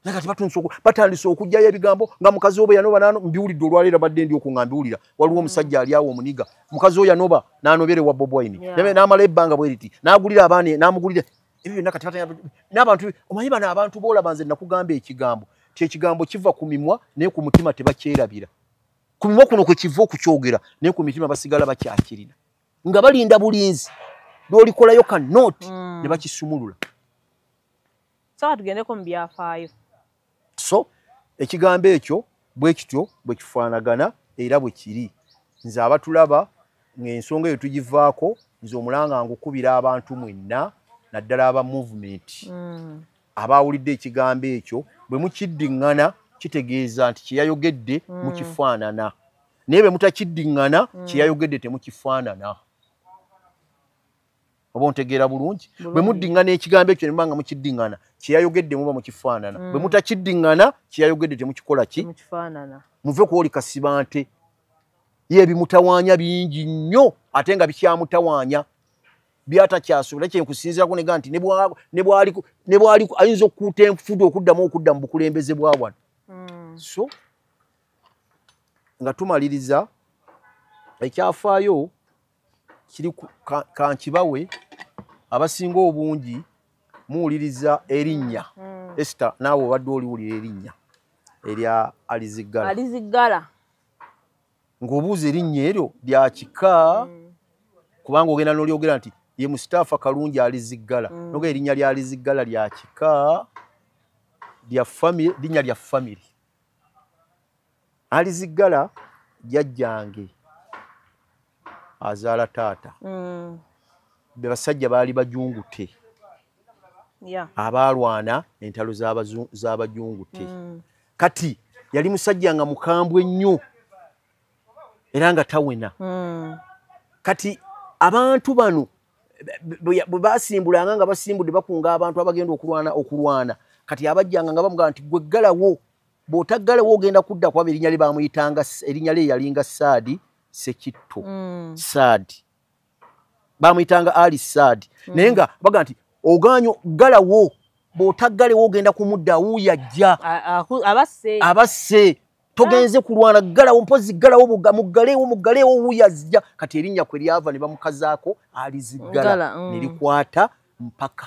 naye kati batandise oku batandise okujjayo ebigambo nga mukazi obo yanoba nano mbiwulidde olwaleero badde ndi okunga mbiwulira waliwo mm. omusajja ali awo omuniga mukazi oyo yanoba nanobere wa bob wine yeah. namala ebbanga bweriti nagulira abaana namugulira ebyo byonna kati batanya n'abantu omanyi bano abantu boolaba nze nakugamba ekigambo ti ekigambo kiva ku mimwa naye ku mutima tebakyerabira ku mimwa kuno kwe kiva okukyogera naye ku mitima basigala bakyakirina nga balinda bulinzi lwolikolayo ka nooti mm. ne bakisumulula sooka tugendeko mu byafaayo so ekigambo ekyo bwe kityo bwe kifaanagana era bwe kiri nze abatulaba ng'ensonga eyo tugivaako nze omulanga ngukubira abantu mwenna naddala aba movement mm. abaawulidde ekigambo ekyo bwe mukiddiŋŋana kitegeeza nti kyeyayogedde mm. mukifaanana naye bwe mutakiddiŋŋana mm. kyeyayogedde temukifaanana oba ontegeera bulungi bwe muddingana ekigambo ekyo ne mubanga mukiddingana kyeyayogedde muba mukifaanana bwe mm. mutakiddingana kyeyayogedde temukikola ki muve kwoli kasibante ye ebimutawaanya bingi nnyo ate nga bikyamutawaanya byatakyasobola kyenkusinzirako nega nti ne bwali ayinza okukuuta enfudu okuddamu okudda mu bukulembeze bwa wano mm. so nga tumaliriza ekyafaayo kiri kankibawe abasinga obungi muwuliriza erinnya mm. esta naawe obadde oliwulira erinnya erya aliziggala aliziggala ng'obuuza erinnya eryo lya kika mm. kubanga ogenda n'olyogera nti ye musitaafa kalungi aliziggala mm. noga erinnya lya aliziggala lya kika lya famire linnya lya famire aliziggala jajjange azaala taata mm. be basajja baali bajungute yeah. abaalwana entalo z'abajungute mm. kati yali musajja nga mukambwe nnyo era nga tawena mm. kati abantu bano bwe basimbulanga nga basimbudde bakunga abantu abagenda okulwana okulwana kati abajjanga nga bamugamba nti gweggalawo bw'otaggalewo ogenda kudda kwaba erinnya lye baamuyitanga erinnya lye yalinga saadi sekitto mm. saadi baamuyitanga ali saadi mm. naye nga baga nti ogaanyo ggalawo bw'otaggalewo ogenda kumudda awuuya ajja abasse togenze kulwana galawo mpozi galawo buga mugalewo mugalewo wuyazija kati erinya kwe lyava ne bamukazako alizigala mm. nilikwata mpaka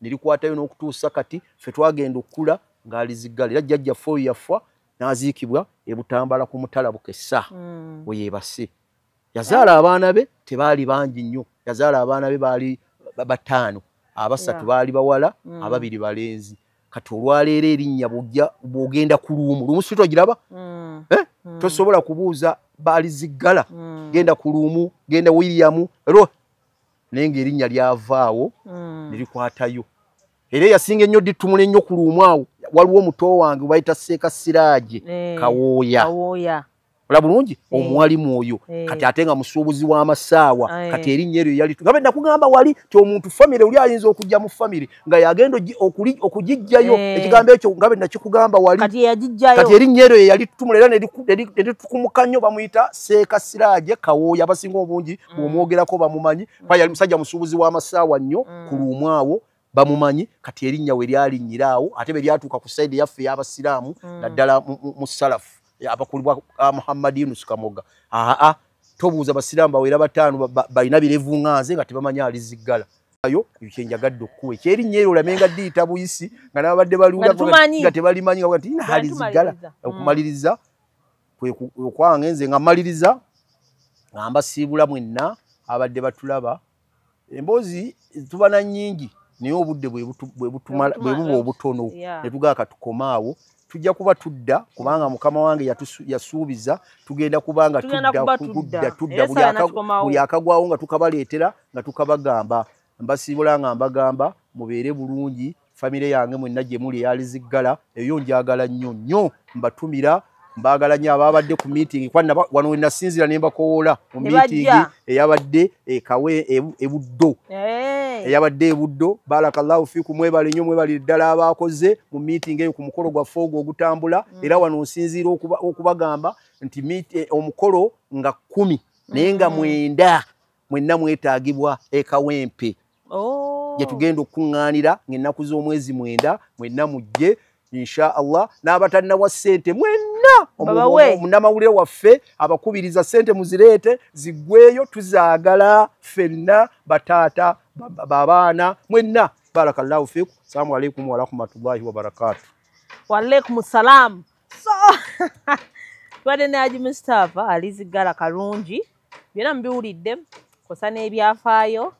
ne likwatayo n'okutuusa kati ffe twagenda okukula ng'ali ziggala era jjajjaffe oyo yafa n'aziikibwa e butambala ku mutala bukesa mm. we yeebase yazaala abaana be tebaali bangi nnyo yazaala abaana be baali bataano abasatu baali bawala mm. ababiri balenzi kati olwaleero erinnya bwogenda ku luumu luumu si togiraba mm. eh? mm. tosobola kubuuza baali ziggala genda ku luumu genda williamu ro naye ng'erinnya lyavaawo mm. ne likwatayo era eyasinga ennyo dittumula ennyo ku luumu awo waliwo omuto wange bayita seeka siraaje eh, kawooya ola bulungi eh. omuwali mwoyo eh. kati ate nga musuubuzi w'amasaawa kati erinnya eryo yali nabe nakugamba wali ti omuntu famire oli ayinza okujja mu famire nga yagenda okugijjayo eh. ekigambo ekyo nga benakikugamba wali kati erinnya eryo yeyali tutumula era neritukumuka nnyo bamuyita seeka siraje kawooya abasinga obungi mm. bwomwogerako bamumanyi kuba yali musajja musuubuzi w'amasaawa nnyo mm. ku luumwawo bamumanyi kati erinnya we lyalinnyira awo ate be lyatuuka ku saidi yaffe ey'abasiraamu mm. naddala mu salafu abakulibwa ah, muhammad yunus kamoga aa tobuuza basiraamu bawera bataano balina birevu nga nze nga tebamanyi aliziggala ayo kyenjagadde okukuwa ekyerinnya ero olame nga diyita buyisi nga nababadde baliwulanga tebalimanyi nga ti nahali zigala mm. okumaliriza okwange nze nga maliriza nga mbasiibula mwenna abadde batulaba emboozi tuba na nyingi naye obudde bwebuba obutono netugaa katukoma awo tujja kuba tudda kubanga mukama wange yasuubiza tugenda kuba nga tudda tudda buli akagwawo nga tukabaleetera nga tukabagamba mbasiibula nga mbagamba mubeere bulungi famire yange mwenna gye muli eyaliziggala eyo njagala nnyo nnyo mbatumira mbaagala nnyo abaabadde ku miitingi wano wenasinziira ne mbakowoola mu miitingi eyabadde ekawe ebuddo eyabadde ebuddo barakallahu fiku mwebale nyo mwebale ddala abakoze mu meeting eyo ku mukolo gwa fogo ogutambula mm. era wano nsinziira okubagamba nti eh, omukolo nga kumi naye nga mm. mwenda mwenna mwetagibwa ekawempe oh. gye tugenda okukuŋŋaanira ng'ennaku z'omwezi mwenda mwenna mujje insha allah n'abatalinawa ssente mwenna omunamawulire waffe abakubiriza ssente muzireete ziggweyo tuzaagala ffenna bataata babaana mwenna barakallahu fiku salamu alaikum warahmatullahi wabarakatu waalaikum salaamu so tubadde ne haji mustapha aliziggala kalungi byonna mubiwulidde kosa n'ebyafaayo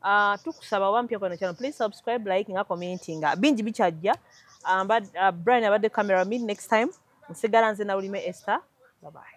ah, tukusaba oba mpya kweno kyano please subscribe like nga commenting ah, bingi bikyajja ah, brian abadde camera mid next time nsigala nze nawulime ester babaye